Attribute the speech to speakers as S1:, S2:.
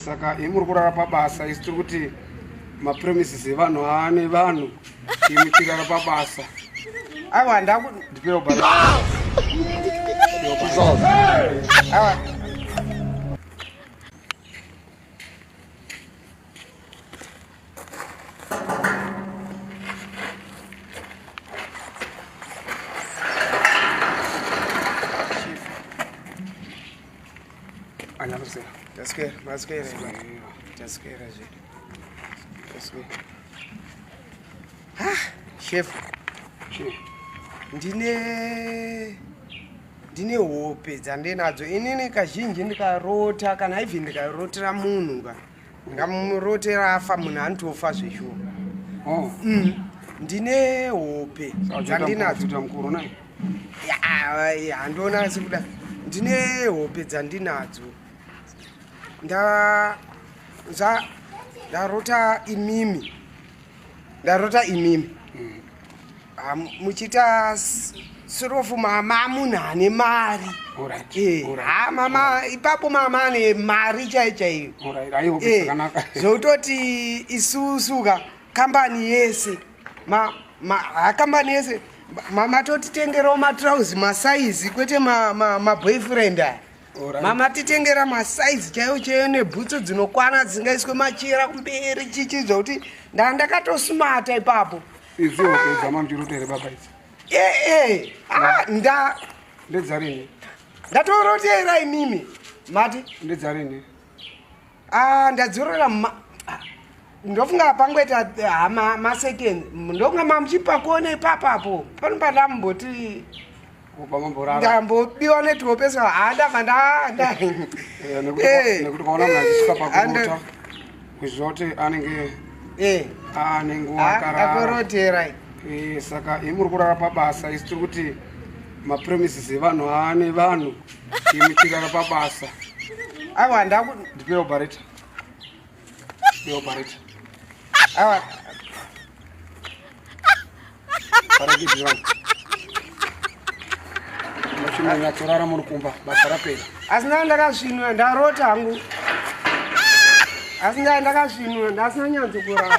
S1: saka imi muri kurara pabasa isi tiri kuti mapremises evanhu aane vanhu imi tirara pabasa aiwa handaku ndipewo ba Anyakusera. Taswera, maswera. Taswera zve. Taswera. Ah, chef. Chef. Ndine ndine hope dzandinadzo inini kazhinji ndikarota kana even ndikarotera munhu ka ngamurotera afa munhu anotofa zveshuwa oh. mm. ndine hope dzandinadzo handiona asi kuda ndine hope dzandinadzo ndarota imimi ndarota imimi ah, muchiita sirofu mama amunhu ane mari eh, ah, mama ipapo mama ane mari chaiyo chaiyo eh, zvototi isusuka kambani yese kambani yese matotitengerawo matrauzi masaizi kwete maboyfriend aya mama titengera masaizi chaiyo chaiyo nebhutsu dzinokwana dzisingaiswe machira kumberi chichi zvokuti ndaa ndakatosumata ipapo izi hope dzamamjurutere baba idzi ee eh, ah, nda ndedzarini ndatorotera imimi mati ndedzarini Ah, ndadzorora ma ah, ndofunga pangoita ah, ma- masecond ndofunga mamuchipakone ipapapo pano pandamboti kubva mamborara ndambobiwa netwopeso handava ndanda Eh, nekuti Eh, nekuti kwaona munhu achisvika eh, pakurota ando- kuziva kuti anenge eh, ane nguva ah, akarara ndakorotera Eh, saka imi muri kurara pabasa isi tiri kuti mapremises evanhu aane vanhu Imi tigara pabasa. Awa ndaku ndipe operator. Ndipe operator. Awa. Para kidira. Mashina nyatorara muri kumba basa rapera. Asina ndakasvinwa ndarota hangu. Asi ndakasvinwa ndasina nyanzo kurara.